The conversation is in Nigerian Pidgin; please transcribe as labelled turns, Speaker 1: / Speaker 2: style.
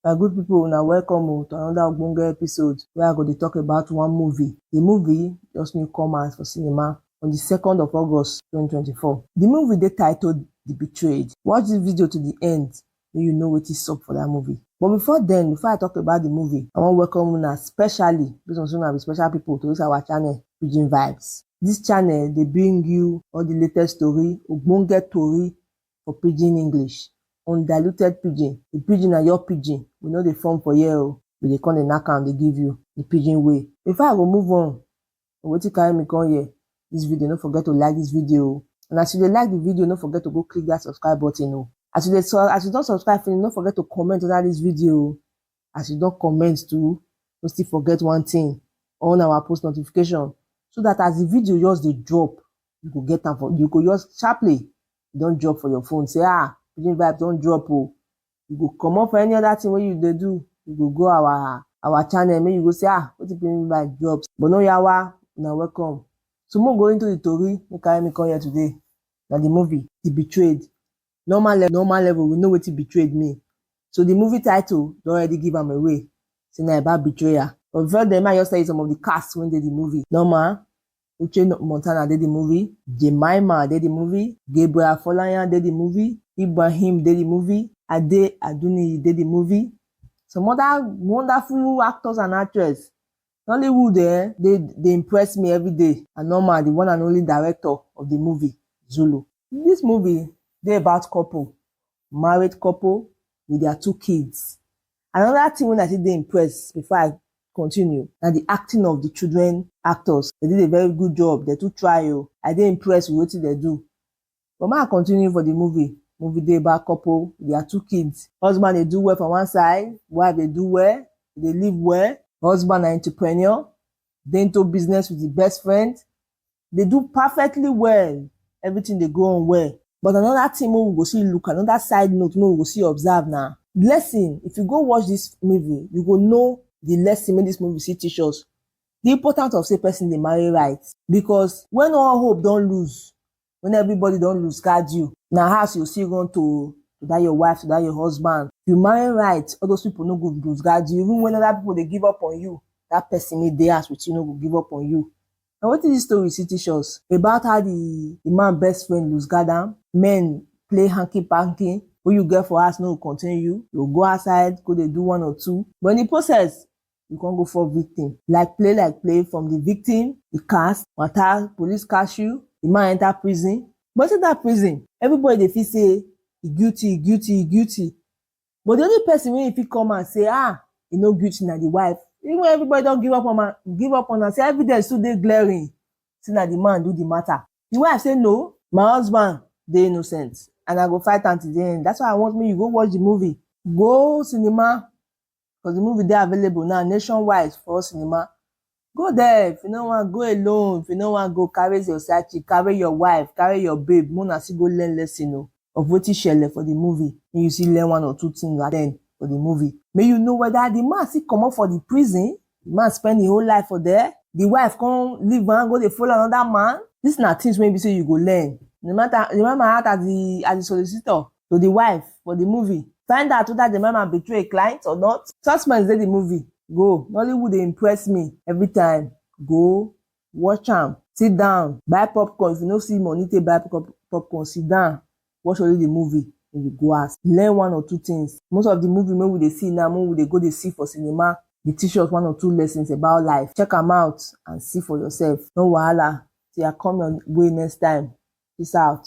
Speaker 1: My good people, una welcome o to another ogbonge episode where I go dey talk about one movie. The movie just new come out for cinema on the second of August twenty twenty four. The movie dey titled The Betrayed. Watch this video to the end make you know wetin sup for that movie. But before then, before I talk about the movie, I wan welcome una specially based on say una be special people to this our channel, Pidgin Vibes. This channel dey bring you all the latest story, ogbonge tori, for pidgin English, undiluted pidgin, the pidgin na your pidgin, we no dey form for here o, we dey come dey knack am dey give you the pidgin way. Before I go move on to wetin carry me come here this video, no forget to like this video o and as you dey like the video, no forget to go click that subscribe button o, as you dey as you don subscribe finish, no forget to comment under this video o, as you don comment too no still forget one thing on our post notification so that as the video just dey drop you go get am for you go just sharply e don drop for your phone say ah pidgin vibe don drop o oh. you go comot for any other thing wey you dey do you go go our our channel make you go say ah wetin pidgin vibe drop but no yawa una welcome so make we go into the tori wey carry me come here today na the movie the betrayed Normal level, normal level, we know wetin betrayed mean. So the movie title don already give am away, say na about betrayal. But before then, may I just tell you some of the cast wey dey the movie. Norma, Uche Montana dey the movie, Jemima dey the movie, Gabriel Afolayan dey the movie, Ibrahim dey the movie, Ade Aduniyi dey the movie. Some other wonderful actors and actress Nollywood eh dey dey impress me everyday and normal the one and only director of the movie Zulu. This movie dey about couple, married couple with their two kids. Another thing wey I take dey impress before I continue na the acting of the children actors. They did a very good job, they too try o. I dey impress with wetin they do. But make I continue for the movie. Movie dey about couple with their two kids. Husband dey do well for one side, wife dey do well, e dey live well. Husband na entrepreneur, dey into business with e best friend, dey do perfectly well, everything dey go on well. But another thing make we go still look, another side note make we go still observe na. Lesson, if you go watch this movie, you go know the lesson make this movie still teach us. The importance of say person dey marry right. Because when all hope don lose, when everybody don lose guard you, na house you go still run to oh, to that your wife, to that your husband. Human right, all those people no go lose guard you, even when other people dey give up on you, that person wey dey house with you no go give up on you. Na wetin this story still teach us about how the, the man best friend lose guard am, men play hanky panky, who you get for house no go contain you, you go go outside go dey do one or two, but in the process, e come go fall victim like play like play from the victim e cast wata police catch you the man enter prison but inside that prison everybody dey feel say e guilty e guilty e guilty but the only person wey e fit come out say ah e no guilty na the wife even when everybody don give up on am give up on am say evidence still dey glaring say na the man do the matter the wife say no my husband dey innocent and I go fight am till the end that's why I want make you go watch the movie go cinema because the movie dey available now nationwide for all cinema. Go there if you no wan go alone, if you no wan go carry your side chick, carry your wife, carry your babe make una still go learn lesson o of wetin shele for the movie make you still learn one or two things at end for the movie make you know whether the man still comot for the prison, the man spend him whole life for there, the wife come leave am go dey follow another man, this na things wey be say you go learn no matter no matter as the as the solicitor to di wife for di movie. Find out weda di mama betray a client or not, suspense dey di movie go, Nollywood dey impress me every time, go watch am, sit down buy popcorn if you no see money take buy popcorn sit down watch only di movie den you go house, learn one or two things, most of di movie wey we dey see now wey we dey go dey see for cinema dey teach us one or two lessons about life, check am out and see for yourself, no wahala till I come your way next time, peace out.